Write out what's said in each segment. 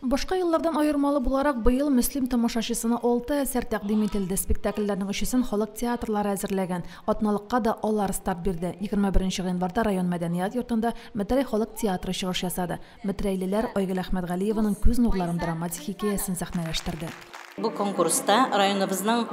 Башка еллардан аермалы буларак, быел Мөслим тамашачысына алты әсәр тәкъдим ителде. Спектакльләрнең өчесен халык театрлары әзерләгән. Атналыкка да алар старт бирде. Егерме беренче гыйнварда район мәдәният йортында Метрәй халык театры чыгыш ясады. Метрәйлеләр Айгөл Әхмәтгалиеваның Күз нурларым драматик хикәясен сәхнәләштерде. Бу конкурста районыбызның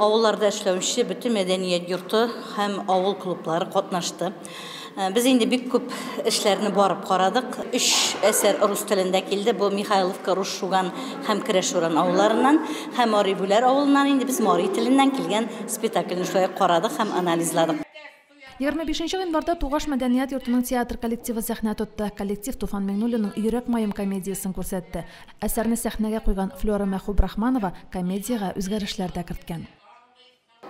авылларда эшләүче бөтен мәдәният йорты һәм авыл клублары катнашты. Э, без инде бик күп эшләрне барып карадык. Өч әсәр рус телендә килде. Бу Михайловка, Руш Шуган һәм Керәшуран авылларыннан һәм Мари Бүләр авылыннан инде без мари теленнән килгән спектакльне шулай карадык һәм анализладык. Егерме бишенче гыйнварда Тугаш мәдәният йортының театр коллективы сәхнә тотты. Коллектив Туфан Миңнуллинның Йөрәк маем комедиясен күрсәтте. Әсәрне сәхнәгә куйган Флера Мәхүбрахманова комедиягә үзгәрешләр дә керткән.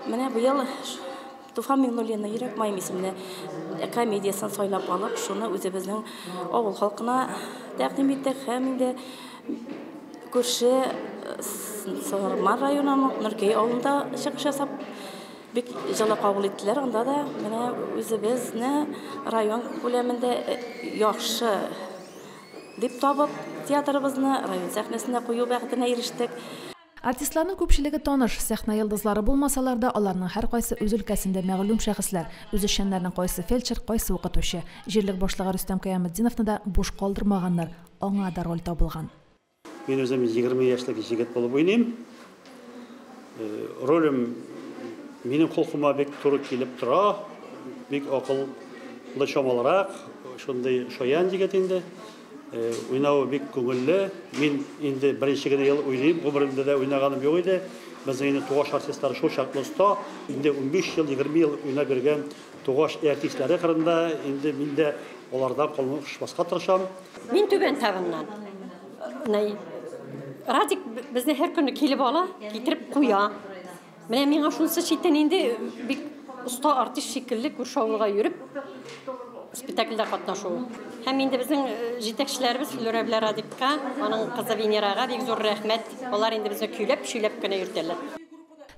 Менә быел Туфан Миңнуллинның Йөрәк маем исемле комедиясен сайлап алып, шуны үзебезнең авыл халкына тәкъдим иттек һәм инде күрше Сарман районының Нуркәй авылында чыгыш ясап, Бик җылы кабул иттеләр, анда да менә үзебезне район күләмендә яхшы дип табып, театрыбызны район сәхнәсенә кую бәхетенә ирештек. Артистларның күпчелеге таныш, сәхнә йолдызлары булмасалар да, аларның һәркайсы үз өлкәсендә мәгълүм шәхесләр. Үзешчәннәрнең кайсы фельдшер, кайсы укытучы. Җирлек башлыгы Рөстәм Кыяметдиновны да буш калдырмаганнар, аңа да роль табылган. Мин үзем 20 яшьлек җегет булып уйныйм. Э, ролем минем холкыма бик туры килеп тора. Бик акыллы чамалырак, шундый шаян егет инде. Э, уйнавы бик күңелле. Мин инде беренче генә ел уйныйм, гомеремдә дә уйнаганым юк иде. Безнең инде тугаш артистлар шул чаклы оста. Инде 15 ел, 20 ел уйнап йөргән Тугаш и артистлары кырында инде мин дә алардан калмышмаска тырышам. Мин Түбән Тавыннан. Менә Радик безне һәр көнне килеп ала, китереп куя. Менә миңа шунысы читен инде бик оста артист шикелле күрше авылга йөреп спектакльдә катнашу. Һәм инде безнең э, җитәкчеләребез Флюра белән Радикка, аның кызы Венерага бик зур рәхмәт. Алар инде безне көйләп-шөйләп кенә йөртәләр.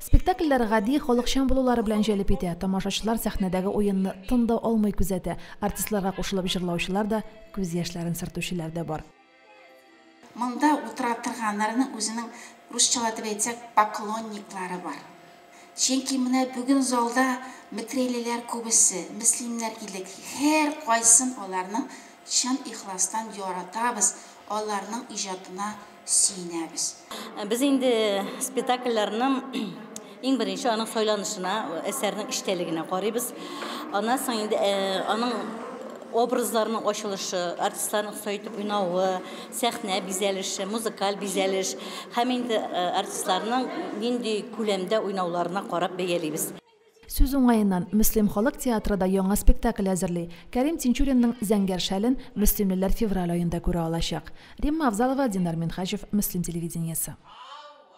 Спектакльләр гади, халыкчан булулары белән җәлеп итә. Тамашачылар сәхнәдәге уенны тын да алмый күзәтә. Артистларга кушылып җырлаучылар да, күз яшьләрен сөртүчеләр дә бар. Монда утыра торганнарның үзенең, русчалап дип әйтсәк, поклонниклары бар. Чөнки менә бүген залда мекрелеләр күбесе, мөслимнәр идек. Һәркайсын аларны чын ихластан яратабыз, аларның иҗатына сөенәбез. Без инде спектакльләрнең иң беренче аның сайланышына, әсәрнең эчтәлегенә карыйбыз. Аннан соң инде аның образларның ачылышы, артистларның сай итеп уйнавы, сәхнә бизәлеше, музыкаль бизәлеш һәм инде артистларның нинди күләмдә уйнауларына карап бәялибез. Сүз уңаеннан, Мөслим халык театры да яңа спектакль әзерли. Кәрим Тинчуринның Зәңгәр шәлен мөслимлеләр февраль аенда күрә алачак. Римма Авзалова, Динар Минһаҗев, Мөслим телевидениесе.